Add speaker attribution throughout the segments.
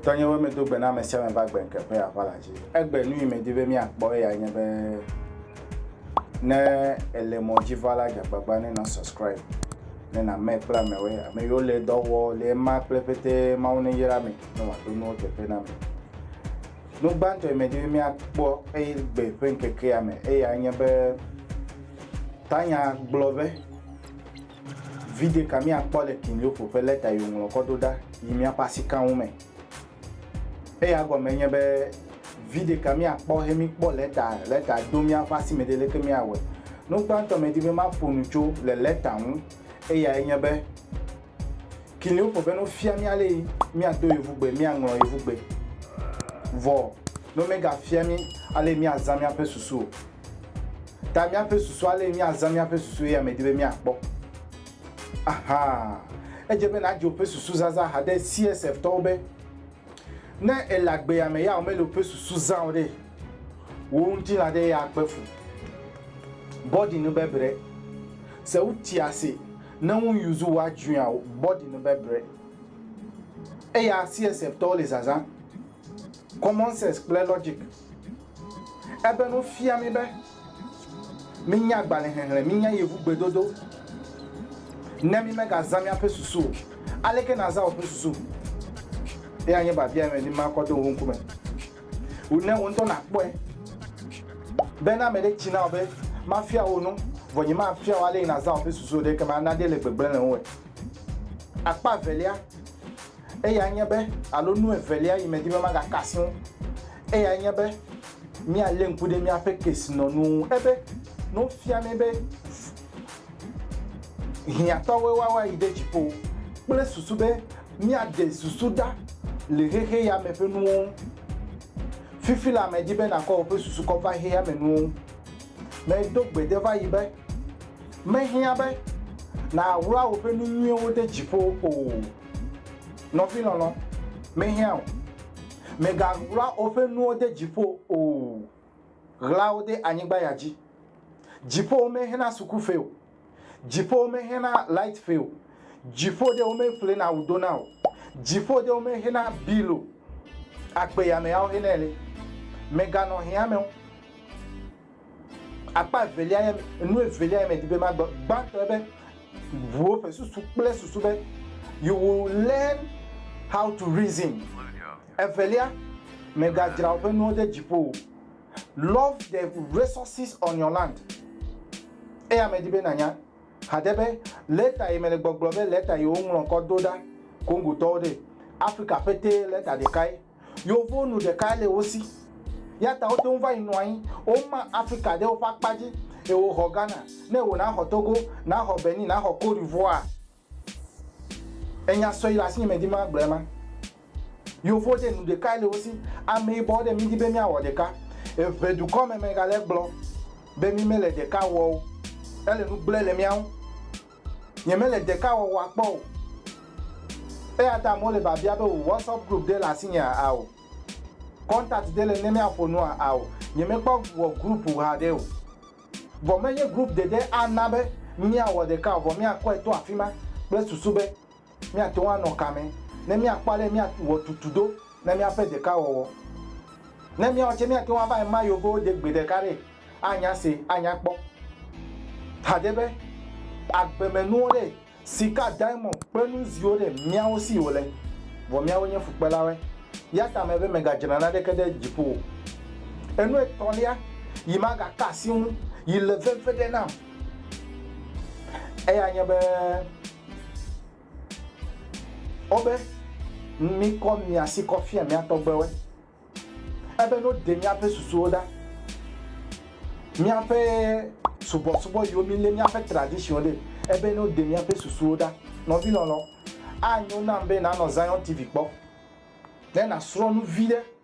Speaker 1: Tɔnyewo medo gbe na ame sia ame va gbe ŋke ƒe aʋala dzi. Egbe nu yi medi be míakpɔ eya nye be ne ele mɔ dzi va la dzagbagba ne na subscribe. ne nàmee kple ameawo, ame yiwo le dɔ wɔ le ema kple ƒete Mawu neyra mi ne wòaɖo nuwo teƒe na mi. Nu gbãtɔ yi medi be míakpɔ eye gbe ƒe ŋkekea me eya nye be Tanya gblɔ be video ka míakpɔ le King Leopold ƒe lɛta yi wòŋlɔ kɔ ɖo ɖa yi míaƒe asika ŋu me. Eya gɔme nye be video ka míakpɔ he míkpɔ lɛta lɛta do mía ƒe asi me ɖi leke míawɔe. Nu gbãtɔ medi be maƒo nu tso le lɛta ŋu eyae nye be Kiliwo ƒo be no fia mí ale yi míado yevugbe míaŋlɔ yevugbe vɔ no megafia mí ale yi míazã míaƒe susu o. Ta míaƒe susu ale yi míazã míaƒe susu ye medi be míakpɔ. Aha! Edze be nàdze woƒe susu zazã haɖe CSF-tɔwo be, ne èle agbea me ya womele woƒe susu zã o ɖe, wò ŋutilã aɖe ya akpe fu. Bɔdi nu be bre. Se woti ase ne ŋu yuzu wɔ adzuia wò bɔdi nu be bre. Eya CSF-tɔwo le zazã. Common sense kple logic. Ebe nu fia mí be. Mínya agbalẽxexlẽ, mínya yevugbedodo, ne mímegazã míaƒe susu o. Aleke nàzã wò ƒe susu? Eyae nye biabia me dim makɔ do wò ŋkume. Wu ne wò ŋutɔ nàkpɔe be ne ame ɖe tsi na wò be, Mafia wò nu, vɔ nyemafia wò ale nàzã wò ƒe susu o ɖe ekema ana ɖe le gbegblẽ le ŋuwòe. Akpa evelia, eyae nye be, alo nu evelia yi medi be magaka asi ŋu. Eyae nye be míalé ŋku ɖe míaƒe kesinɔnuwo ŋu. Ebe ne wofia mí be hiãtɔwoe woawa yi ɖe dziƒo kple susu be míaɖe susu ɖa le xexe ya me ƒe nuwo ŋu. Fifi la medi be nàkɔ wò ƒe susu kɔ va xexea me nuwo ŋu. Medo gbe ɖe va yi be, Mehiã be nàwlɔa wò ƒe nu nyuiwo ɖe dziƒo o, nɔvi lɔlɔ̃, mehiã o. Mègaɣla woƒe nuwo de dziƒo o, ɣla wo de anyigba ya dzi. Dziƒowo mexena sukuƒe o, dziƒowo mexena lightƒe o, dziƒo ɖe womeƒlena wu dona o, dziƒo ɖe womexena bill o, akpe yame yawo xenɛ le. Mèganɔ hiãme o. Akpa evelia nye enu evelia ye medi be magblɔ. Gbãtɔ be ʋuwo ƒe susu kple susu be you will learn how to reason. Evelia, megadzra woƒe nuwo ɖe dziƒo o. Love the resources on your land. Eya medi be nànya haɖe be lɛta yi mele gbɔgblɔ be lɛta yi woŋlɔ kɔ do ɖa Kongotɔwo ɖee. Afrika ƒetee lɛta ɖekae. Yewo nu ɖekae le wo si. Eya ta wote ŋu va yi nɔ anyi. Woma Afrika ɖe woƒe akpa dzi eye woxɔ Ghana. Ne wò naxɔ Togo, naxɔ Benin, naxɔ Cote d'Ivoire. Enya sɔe le asinye medi be magblɔe ma. Yewo ɖe nu ɖekae le wo si. Ameyibɔwo ɖe midi be míawɔ ɖeka. Eŋe dukɔ me megale gblɔ be mi mele ɖeka wɔ o. Ele nu gblɔe le mía ŋu. nyemele ɖekawɔwɔa kpɔ o. Eya ta amewo le biabia be wò WhatsApp group ɖe le asinyea? Ao. Contact ɖe le ne míaƒo nua? Ao. Nyemekpɔ wò group haɖe o. Vɔ menye group ɖeɖe ana be míawɔ ɖeka o, vɔ míakɔe to afima kple susu be Míate ŋu anɔ ka me ne míakpɔ ale míawɔ tutu do na míaƒe ɖekawɔwɔ? Ne míawɔ tse, míate ŋu ava ema yewoƒewo de gbe ɖeka ɖe anya se anya kpɔ. Haɖe be, agbemenuwo ɖe, sika, diamɔnd kple nu ziwo ɖe, míawo si wòle, vɔ míawo nye fukpelawoe. Eya ta mebe megadzra naneke ɖe dziƒo o. Enu etɔ̃lia yi magaka asi ŋu yi le veve ɖe nam eyae nye be, Wobe, Mikɔ mia si kɔ fia mia tɔgbewoe. Ebe no ɖe miaƒe susuwo ɖa. Miaƒe subɔsubɔ yiwo mi le miaƒe tradition ɖe. Ebe no ɖe miaƒe susuwo ɖa. Nɔvi lɔlɔ, anyo nam be na nɔ Zion TV kpɔ. Ne na srɔ nu vi ɖe.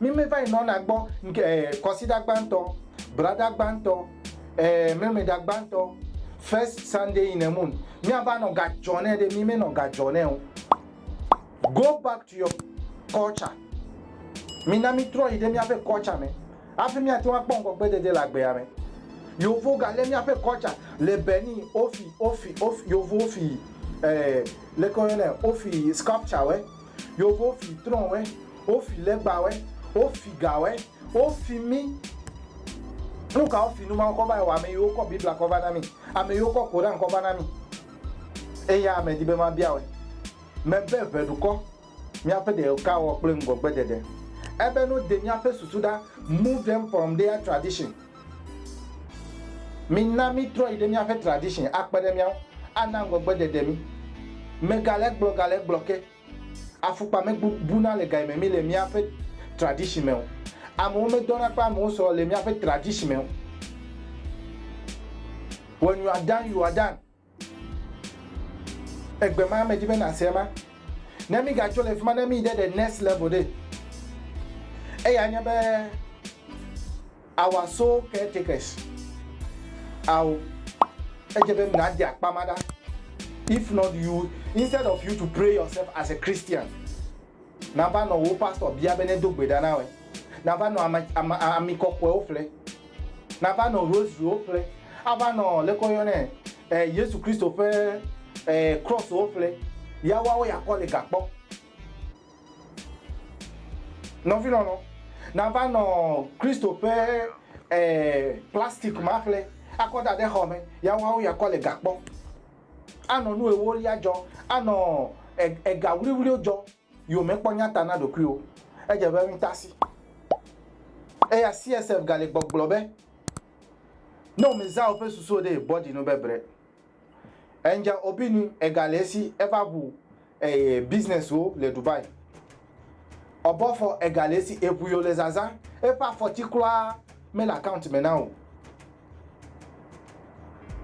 Speaker 1: Mi me va yi nɔna gbɔ ŋke eh, kɔsiɖa gbãtɔ, braɖa gbãtɔ eh, mɛmɛɖa gbãtɔ first Sunday in a month mia va nɔ ga jɔ nɛ ɖe mi me nɔ ga jɔ nɛ o go back to your culture mi na mi trɔ yi ɖe mia ƒe culture me afi mia teŋu akpɔ ŋgɔ gbe dede le agbea me yovo ga le mia ƒe culture le Benin ofi ofi ofi yovo ofi eh, leke wo yɔnɛ ofi sculpture wɛ. Yovo fi trɔ̃wɛ, wofi legbawɛ, wofi gawɛ, wofi mí. Nu ka wofi nu mawo kɔ va yi wɔ ame yiwo kɔ Biblia kɔ va na mí, ame yiwo kɔ Koran kɔ va na mí? Eya medi be mabia wòe. Mebe ʋe ɖukɔ míaƒe ɖekawɔwɔ kple ŋgɔgbeɖeɖe. Ebe no de míaƒe susu ɖa move mpɔmɖea tradition. Mina mítrɔ yi ɖe míaƒe tradition akpe ɖe mía ŋu, ana ŋgɔgbedede mí. Megale egblɔ gale egblɔ ke, afukpa megbu buna le ga yi me mí le míaƒe tradition me o. Amewo medɔna kple amewo sɔ le míaƒe tradition me o. Wɔ nyuaɖaŋ yuaɖaŋ. Egbe ma medi be nàse ema. Ne mígatso le fi ma ne míyi ɖe the next level ɖe, eya nye be our soul caretakers awo edze be nàde akpa ma ɖa. If not you instead of you to pray yourself as a Christian Nava nɔ wò pastor bia be nedo gbe ɖa na wòe. Nava nɔ ame, ame, ami kɔkɔewo ƒle. Nava nɔ rosarywo ƒle. Ava nɔ, leke woyɔnɛ, e, Yesu Kristo ƒe, e, crosswo ƒle. Ya woawo ya kɔ le ga kpɔ. Nɔvi lɔlɔ, nava nɔ Kristo ƒe, e, plastic ma ƒle akɔ da ɖe xɔ me. Ya woawo ya kɔ le ga kpɔ. Anɔ nu ewolia dzɔ, anɔ ega wliwliwo dzɔ yi wò mekpɔ nyata na ɖokuiwò. Edze be ŋutasi. Eya CSF gali gbɔgblɔ be, ne wò mezã woƒe susuwo ɖee, bɔdzi nu be bre. Angel Obinu egali esi eva ʋu eye businesswo le Dubai. Ɔbɔfɔ ega le esi eŋu yo le zazã, eƒe afɔti kura mele account me na o.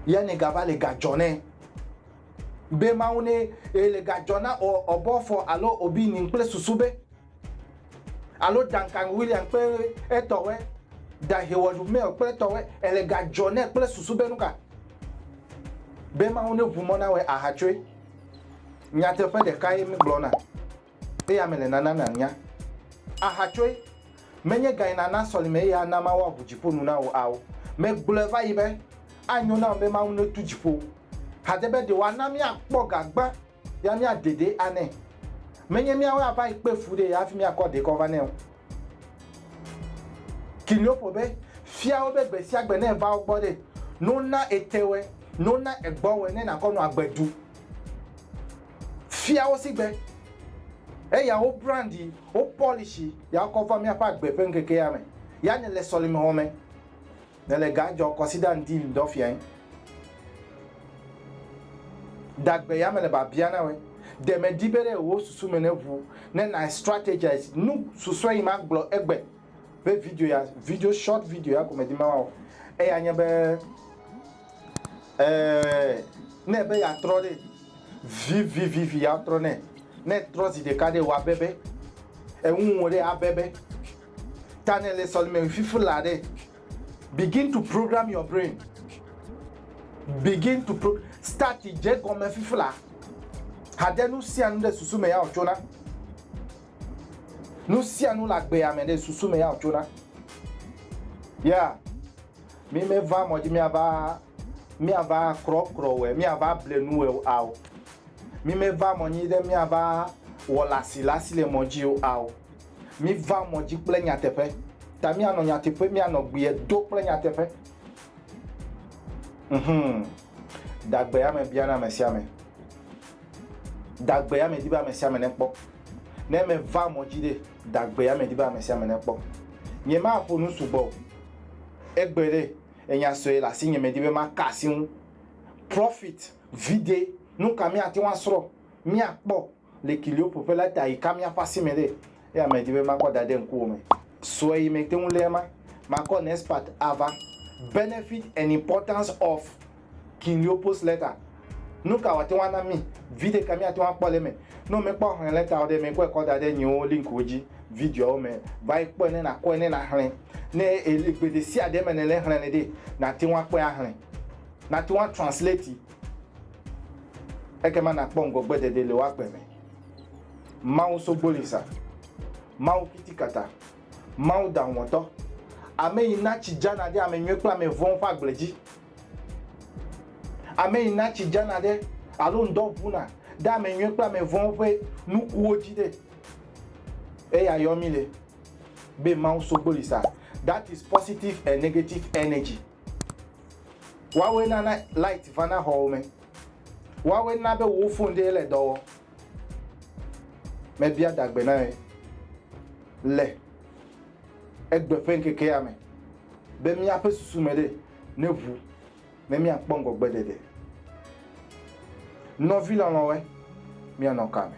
Speaker 1: Yane gava le ga dzɔ nɛ. Be Mawu ne e le ga dzɔ na o ɔbɔfɔ alo obi nin kple susu be alo Duncan William kpe etɔwe da Heward Mail kple etɔwe e le ga dzɔ nɛ kple susu be nuka be Mawu ne ŋu mɔ na we ahatsoe. Nyateƒe ɖekae míegblɔna, eye ame le nana nànya. Ahatsoe, menye gae nàna sɔlime eye ana Mawu aʋu dziƒo nu na wò ao. Megblɔe va yi be, Anyo nam be Mawu netu dziƒo. Hade be ɖe wòana míakpɔ ga gbã ya míadedee anɛ. Menye míawoe ava yi kpe fu ɖee hafi míakɔ ɖee kɔ va nɛ o. Kilioppo be, Fia wo be gbe sia gbe ne èva wo gbɔ ɖe, no na ete wɔe, no na egbɔ wɔe ne nàkɔ nɔ agbe du. Fia wo sigbe, eya wo brandi, wo pɔlishi ya wokɔ va míaƒe agbe ƒe ŋkekea me ya nèle sɔlime wɔm me. Nèle ga dzɔ kɔsida ŋdi ŋdɔ fiae. Dagbe ya mele babia na wòe. Ɖe mèdi be ɖe wò susu me neʋu ne na strategize nu susɔe yi magblɔ egbe be video ya, video short video ya ko medi be mawɔ. Eya nye be e ne ebe yeatrɔ ɖe vivivivi yeatrɔ ne ne etrɔ zi ɖeka ɖe wòabebe. Eŋu wò ɖe abebe. Tanya le sɔlime fifi la ɖe. Begin to program your brain. Begin to pro start dze gɔme fifi la. Hade nu sia nu ɖe susu me ya wòtso na. Nu sia nu le agbea me ɖe susu me ya wòtso na. Ya, mi meva mɔ dzi miava miava krɔkrɔ wɛ, miava ble nu wɛ ao. Mi meva mɔ nyi ɖe miava wɔ lasi lasi le mɔ dzi o ao. Miva mɔ dzi kple nyateƒe. Ta mianɔ nyateƒe, mianɔ gbie do kple nyateƒe. Nhum. Dagbeame biana ame sia ame. Dagbeame di be ame sia ame nekpɔ. Ne meva mɔ dzi ɖe, dagbeame di be ame sia ame nekpɔ. Nyemaƒo nu sugbɔ o. Egbe ɖe, enya sue le asinye medi be maka asi ŋu. Profit, vide, nu ka míate ŋu asrɔ̃, míakpɔ? Le kiliwo ƒoƒe la ta yi ka míaƒe asi me ɖe? Eya medi be makɔ dade ŋkuwò me sue yi mete ŋu lé ema. Makɔ next part ava, Benefit and Importance of Kiliwo Post Letter. Nuka wòate ŋu ana mí? Viɖe ka míate ŋu akpɔ le eme? Ne womekpɔ Xlẽ Lɛtawo ɖe eme, kɔe kɔ da ɖe nyiwo linkwo dzi, videoawo me. Va yi kpɔe ne nàkɔe ne nàxlẽ. Ne èle gbe ɖesiaɖe me nèle xlẽnɛ ɖe, nàte ŋu akpɔe axlẽ. Nàte ŋu atranslati. Ekema nàkpɔ ŋgɔgbedede le wò agbe me. Mawu sogbolisa, Mawu kitikata, Mawu daŋɔtɔ, ame yi na tsi dzana ɖe ame nyui kple ame vɔ̃wo ƒe agble dzi, ame yi na tsi dzana ɖe alo ŋdɔ ʋuna ɖe ame nyui kple ame vɔ̃wo ƒe nukuwo dzi ɖe, eya yɔ mí le be Mawu sogbolisa, that is positive and negative energy. Woawoe nana light vana xɔwo me. Woawoe na be wò phone ɖee le dɔ wɔ. Mebia dagbe na ye le egbe ƒe ŋkekea me be míaƒe susu me ɖe neʋu ne míakpɔ ŋgɔgbe ɖeɖe. Nɔvi lɔlɔ̃woe, míanɔ ka me?